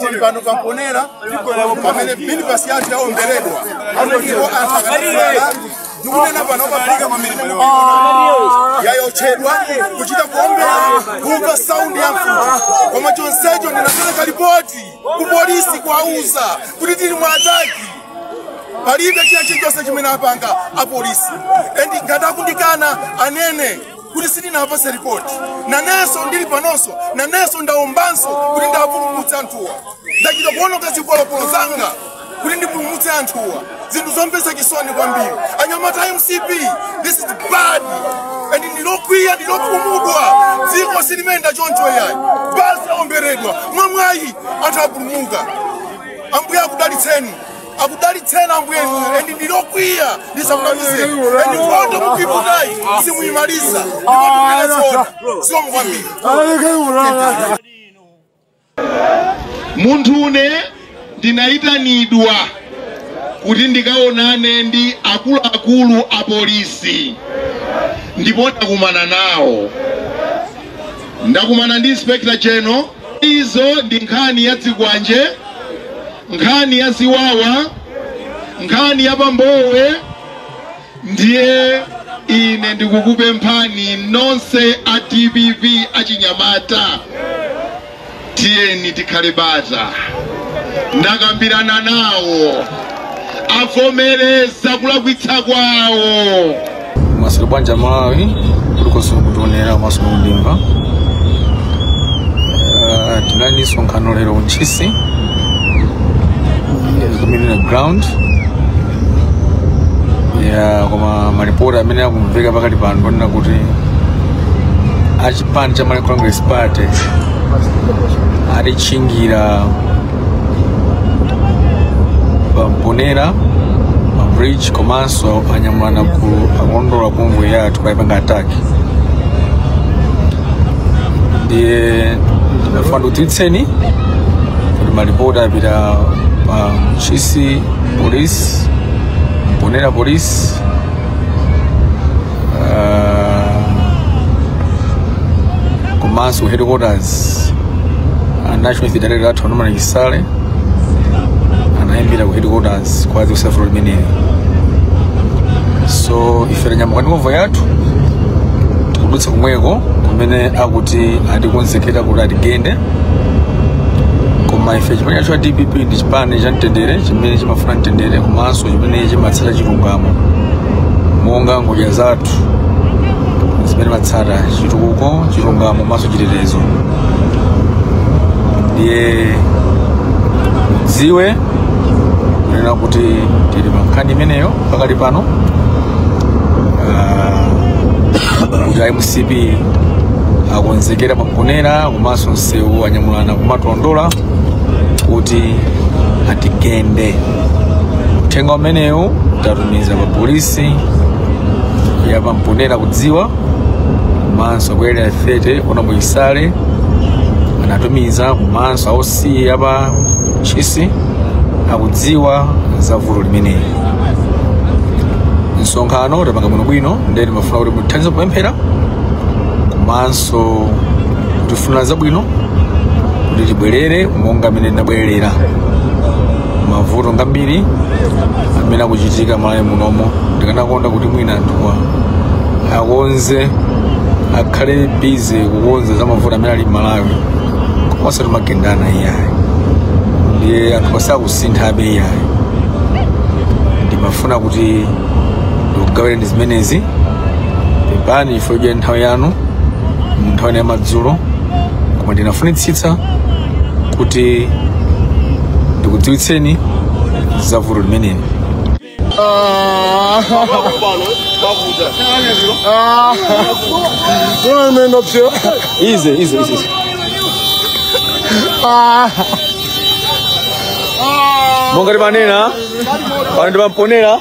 tili pano pa mponela pamene minibasi yathu yaomberedwa apo ndipo anthu akatala ndikunena pano pamalika kwambiri yaotchedwa kuchita kuombera kumva saundi ya mfuti koma chonsecho ndinapereka lipoti ku polisi kuwauza kuti tili mu ataki palibe china chilichonse chimene apanga apolisi endi ngati akundikana anene kuti sitinawapatse ripoti nanenso ndili panonso nanenso ndaombanso kuti ndiwapulumutse anthuwa ndachita kuononga zipolopolo zanga kuti ndipulumutse anthuwa zinthu zomvetsa chisoni kwambiri anyamata a mcp this is bad and ndilokwiya ndilokhumudwa dziko silimayenda choncho yayi basi yaomberedwa mwamwayi anthu apulumuka ambuye akudalitseni akudalitseni ambuye endi ndilokwiya ndisakunamize endi nkhondo mukuiputayi simuyimaliza ndikunena zoona zikomo kwambiri munthune ndinayitanidwa kuti ndikaonane ndi akuluakulu a polisi ndipo ndakumana nawo ndakumana ndi inspector general izo ndi nkhani ya zikwanje nkhani ya ziwawa nkhani ya pa mbowe ndiye ine ndikukupemphani nonse a dpp achinyamata tiyeni tikhale bata ndakambirana nawo avomereza kulakwitsa kwawo mwaswera bwanji amalawi kulikonse mukutionera komanso kundimva Ah, tinali ndi msonkhano lero ku ntchisi community ground ya koma malipoti amene akumveka pakati pano ponena kuti achipani cha malawi congress party atitchingira pa mponela pa bridge komanso anyamulana ku akulondola convoy yathu paipanga attack ndiye ndimafuna ndikudziwitseni kuti malipoti apita pa ntchisi police mponela police uh, komanso headquarters a national youth director athu a norman chisale anaimbira ku headquarters kwa the useful limeneli so ife tanyamuka ndi convoy yathu tikudutsa komweko kumene akuti atikonzekera kuti atigende koma ife chipani chathu cha dpp ndi chipani cha mtendere chimene chimafuna mtendere komanso chimene chimatsata chilungamo monga ngodya zathu zimene timatsata chitukuko chilungamo komanso chitetezo ndiye mudziwe kunena kuti tili pa nkhani imeneyo pakali pano Ah, kuti a mcp akonzekera pa Mponela komanso mumsewu anyamulana kumatondola kuti atigende uthenga umenewu tatumiza pa polisi ya pa Mponela akudziwa komanso ku Area 30 kuna muyisale anatumiza komanso a OC a pa Ntchisi akudziwa za vuto limeneli msonkhano tapanga bwinobwino nde timafuna kuti muthandize kupemphera komanso kutifunira zabwino kuti tibwerere monga mmene tinabwerera mavuto ngambiri amene akuchitika malawi munomo ndikanakonda kuti mwina anthuwa akonze akhale busy kukonza za mavuto amene ali malawi osati kumagendana iyayi ndiye anthu sakusinthabe iyayi ndimafuna kuti ndikugawireni zimenezi pepani takudyerani nthawi yanu mu nthawi ya madzulo koma ndinafunitsitsa kuti ndikudziwitseni za vuto limeneli ize ize ize monga timanena pano ndi pa Mponela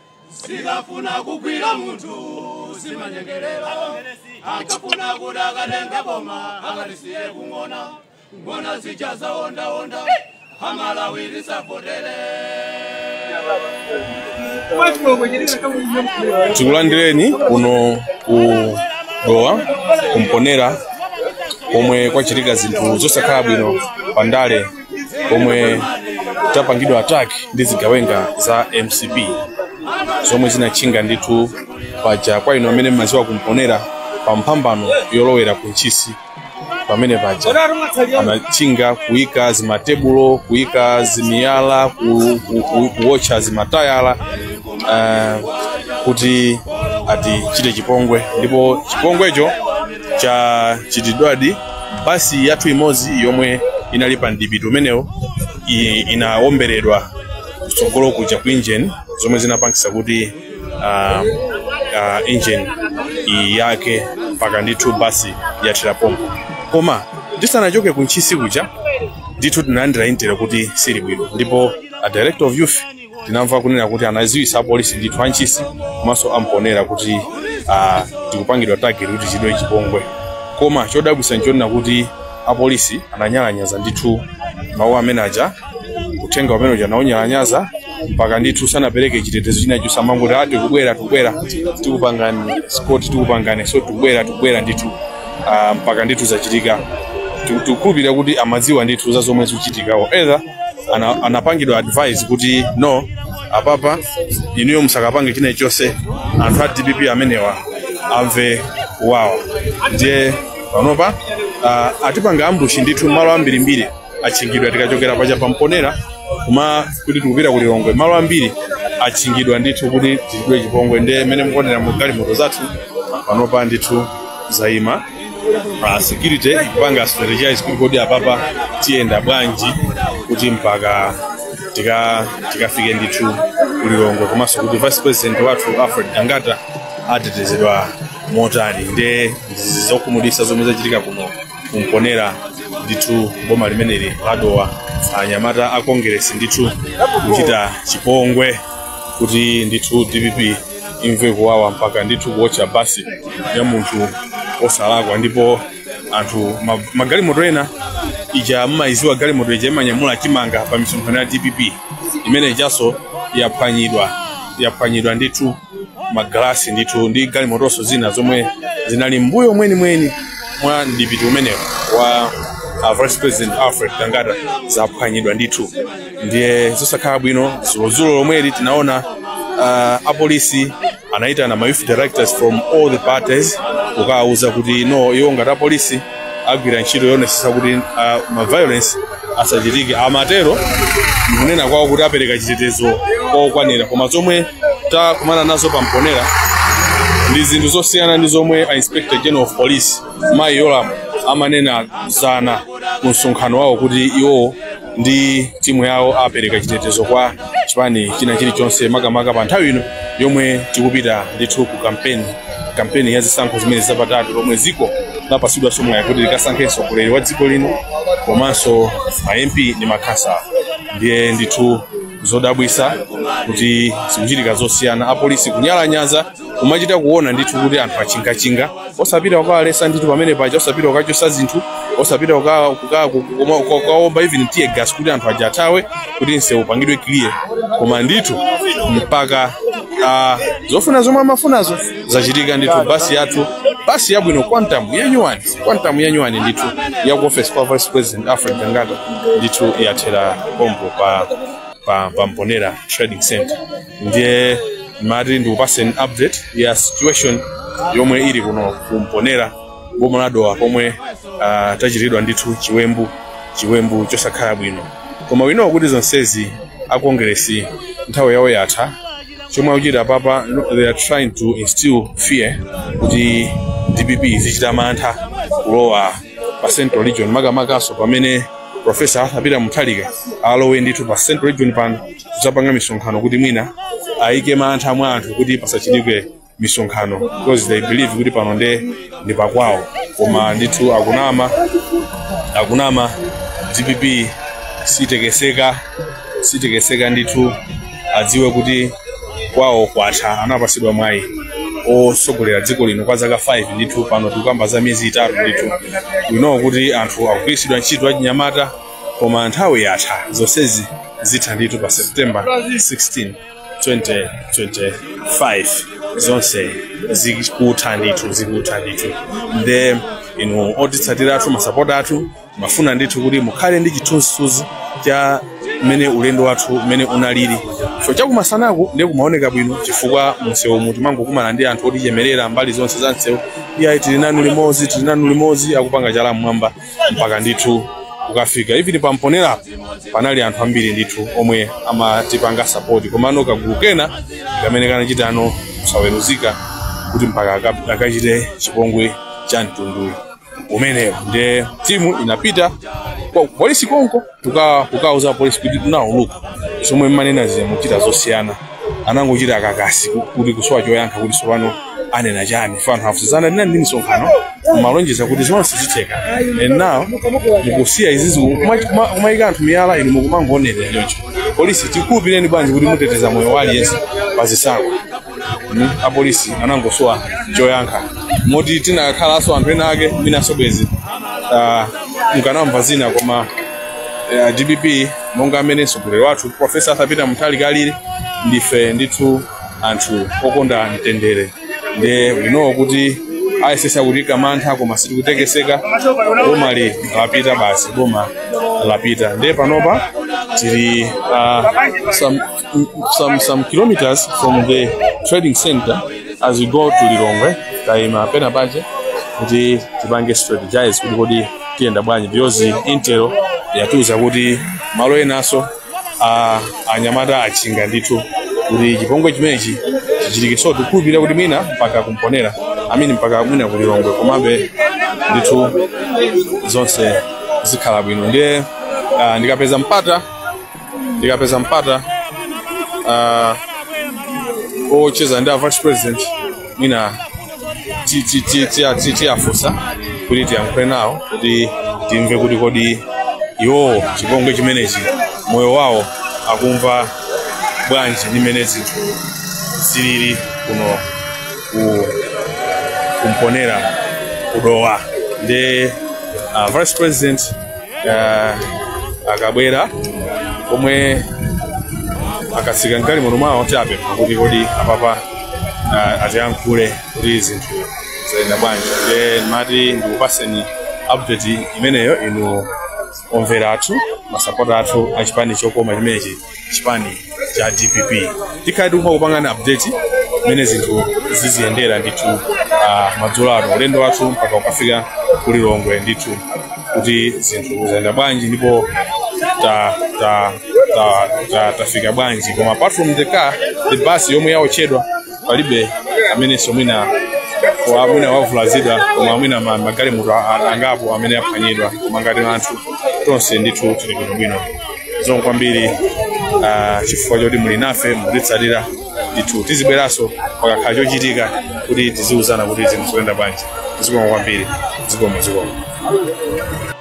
zikafuna kugwira munthu zimanyengerera akufuna kuti akatenga boma akalisiye ng'ona ng'ona zija zaondaonda amalawi musavotere tikulandireni kuno ku dowa ku Mponela komwe kwachitika zinthu zosakhala bwino pa ndale pomwe tapangidwa attack ndi zigawenga za mcp zomwe zinatchinga ndithu paja kwa inu amene mmaziwa ku Mponela pa mphambano yolowera ku ntchisi pamene paja anatchinga kuyika zimatebulo kuyika zimiyala ku- ku- ku- kuwotcha zimatayala eh, kuti atichite chipongwe ndipo chipongwecho chachitidwadi basi yathu imodzi yomwe inali pa mdipiti umenewo i- inawomberedwa kutsogolo kuja ku engine zomwe zinapangisa kuti uh, uh, engine yake mpaka ndithu basi yathera pompo koma tisanachoke ku ntchisi kuja ndithu tinalandira intel kuti sizili bwino ndipo a director of youth tinamva kunena kuti anaziwisa apolisi ndithu a Ntchisi komanso a Mponela kuti ah, tikupangidwa tageti kuti tichidwe chipongwe koma chodabwisa nchonena kuti apolisi ananyalanyaza ndithu mawu amene aja, uthenga umene uja anawunyalanyaza mpaka ndithu sanapereke chitetezo china chonse amangoti a tikubwera tikubwera tikupangani skoti tikupangani so tikubwera tikubwera ndithu ah, mpaka ndithu zachitika Tiku- tikukhulupirira kuti amadziwa ndithu za zomwe zikuchitikawo either ana, anapangidwa advise kuti no apapa inuyo musakapange china chonse, anthu a dpp amenewa amve kuwawa ndiye panopa uh, atipanga ambushi ndithu malo ambirimbiri atchingidwa tikachokera paja pa Mponela kumati kuti tikupita ku lilongwe malo ambiri atchingidwa ndithu kuti tichidwe chipongwe ndiye mmene mukuonera mu galimoto zathu panopa ndithu zaima a security akupanga strategize kuti kodi apapa tiyenda bwanji kuti mpaka tika tikafike ndithu ku lilongwe komanso kuti vice president wathu alfred gangata atetezedwa motani nde ndi zokhumudwitsa zomwe zachitika kuno ku Mponela ndithu boma limeneli la Dowa anyamata a kongeresi ndithu kuchita chipongwe kuti ndithu dpp imve kuwawa mpaka ndithu kuwotcha basi ya munthu osalakwa ndipo anthu ma- magalimoto ena ija mmaidziwa galimoto ija imanyamula chimanga pa misonkhano ya dpp imene ijaso yaphwanyidwa yaphwanyidwa ndithu magalasi ndithu ndi galimotonso zina zomwe zinali m'mbuyo mwenimweni mwa mdipiti umenewo wa uh, vice president alfred gangata zaphwanyidwa ndithu ndiye zosakhala bwino dzulodzulo lomweli tinaona uh, apolisi anayitana ma youth directors from all the parties kukawauza kuti no iwo ngati apolisi agwira ntchito yoonetsetsa kuti uh, ma violence asachitike amatero mkunena kwawo kuti apereka chitetezo chokwanira koma zomwe takumana nazo pa Mponela ndi zinthu zosiyana ndi zomwe a inspector general of police mayi yolamu amanena dzana ku msonkhano wawo kuti iwowo ndi timu yawo apereka chitetezo kwa chipani china chilichonse makamaka pa nthawi ino yomwe tikupita ndithu ku kampeni kampeni ya zisankho zimene zapatatu lomwe dziko lapatsidwanso mwayi kuti likasankhenso mtsogoleri wa dziko lino komanso ma mp ndi makhansala ndiye ndithu zodabwisa kuti zikuchitika zosiyana apolisi kunyalanyaza kumachita kuona ndithu kuti anthu achinga-chinga osapita kukawaletsa ndithu pamene paja osapita kukachosa zinthu osapita kuka- kuka- kukoma- kuka- kukaomba even tear gas kuti anthu aja athawe kuti msewu upangidwe clear koma ndithu mpaka ah, zofuna zomwe amafunazo zachitika ndithu basi yathu basi yabwino quantum yanyuwani quantum yanyuwani ndithu ya ku office ya vice president alfred gangata ndithu yathera pompo pa pa, pa mponera trading center ndiye mati ndikupaseni update ya situation yomwe ili kuno kumponera boma la dowa pomwe uh, tachitidwa ndithu chiwembu chiwembu chosakhala bwino koma we know kuti zonsezi a kongresi nthawi yawo yatha chomwe akuchita papa they are trying to instill fear kuti dpp izichita mantha kulowa pa central region makamakanso pamene profesa arthur peter mutharika alowe ndithu pa central region pano kuzapanga misonkhano kuti mwina ayike mantha mwa anthu kuti pasachitike misonkhano because they believe kuti pano nde ndi pakwawo koma ndithu akunama akunama dpp sitekeseka sitekeseka ndithu adziwe kuti kwawo kwatha anapatsidwa mwayi otsogolera dziko lino kwa zaka 5 ndithu pano tikukamba za miyezi itatu ndithu we know kuti anthu akugwiritsidwa ntchito achinyamata koma nthawi yatha zonsezi zitha ndithu pa september 16 2025 zonse zikutha ndithu zikutha ndithu nde inu otitsatira athu masapota athu mafuna ndithu kuti mukhale ndi chithunzithunzi cha mmene ulendo wathu mmene unalili so chakumasanaku ndi kumaoneka bwino chifukwa msewu mu timangokumana ndi anthu otichemerera mbali zonse za msewu iyayi tili nanu limodzi tili nanu limodzi akupanga chala mmwamba mpaka ndithu kukafika even pa mponera apo panali anthu ambiri ndithu omwe amatipanga sapoti komano kagulu kena kamene kanachitano kusaweruzika kuti mpaka aka- akachite chipongwe cha mtundu umenewo ndiye timu inapita kwa polisi konko kuka kukauza polisi kuti tinawuzana zomwe mumanena zija mukuchita zosiyana anangochita kakasi ku- kuti kusowa choyankha kuti sopano anena chani pano tinauzana ndinali ndi misonkhano malonjeza kuti zonse zitheka and now mukusiya izizi kuma- kuma- kumayika anthu miyala inu mukumangoonera choncho polisi tikukhulupirireni bwanji kuti muteteza moyo wa aliyense pa zisankho Mm, apolisi anangosowa choyankha moti tinakhalanso anthu ena ake mwinanso bwezi ah, mukanamva zina koma eh, dpp monga mmene mtsogoleri wathu profesa arthur peter mutharika alili ndife ndithu anthu okonda mtendere nde we know kuti ayesetsa kutiika mantha koma sitikutekeseka boma ili lapita basi boma lapita nde panopa tili uh, some some some kilometers from the trading center as we go to Lilongwe taima penapache kuti tipange strategize kuti kodi tiyenda bwanji because intel yatiuza kuti malo enanso anyamata achinga ndithu kuti chipongwe chimenechi chichitike so tikukhulupirira kuti mwina mpaka ku Mponela amini mpaka mwina ku Lilongwe komabe ndithu zonse zikhala bwino ndiye ah, ndikapeza mpata ndikapeza mpata ah, wocheza ndi a vice president mwina ti- ti- ti- ti- ti- tiwafunsa kuti tiyankhule nawo kuti timve kuti kodi iwowo chipongwe chimenechi moyo wawo akumva bwanji ndi mmene zinthu zilili kuno ku ku Mponela ku Dowa ndiye uh, vice president Ah, akabwera komwe akatsika m'galimoto mwawo chabe kuti kodi apapa ah, atiyankhule kuti zinthu zayenda bwanji nde ndimati ndikupaseni update imeneyo inu omvera athu masapota athu achipani chokoma chimenechi chipani cha dpp tikhale tikumapangana update mmene zinthu ziziyendera ndithu uh, madzulo ano ulendo wathu mpaka ukafika ku Lilongwe ndithu kuti zinthu zayenda bwanji ndipo ta, ta, ta, ta, tafika bwanji koma apart from the car the bus yomwe yaotchedwa palibe amenenso mwina wa mwina wavulazidwa koma mwina ma- magalimoto a- a- angapo amene aphwanyidwa koma ngati anthu tonse ndithu tili bwinobwino zikomo kwambiri ah, chifukwa choti muli nafe mukutitsatira ndithu tizibweranso pakakhala chochitika kuti tiziwuzana kuti zinthu zikuyenda bwanji zikomo kwambiri zikomo zikomo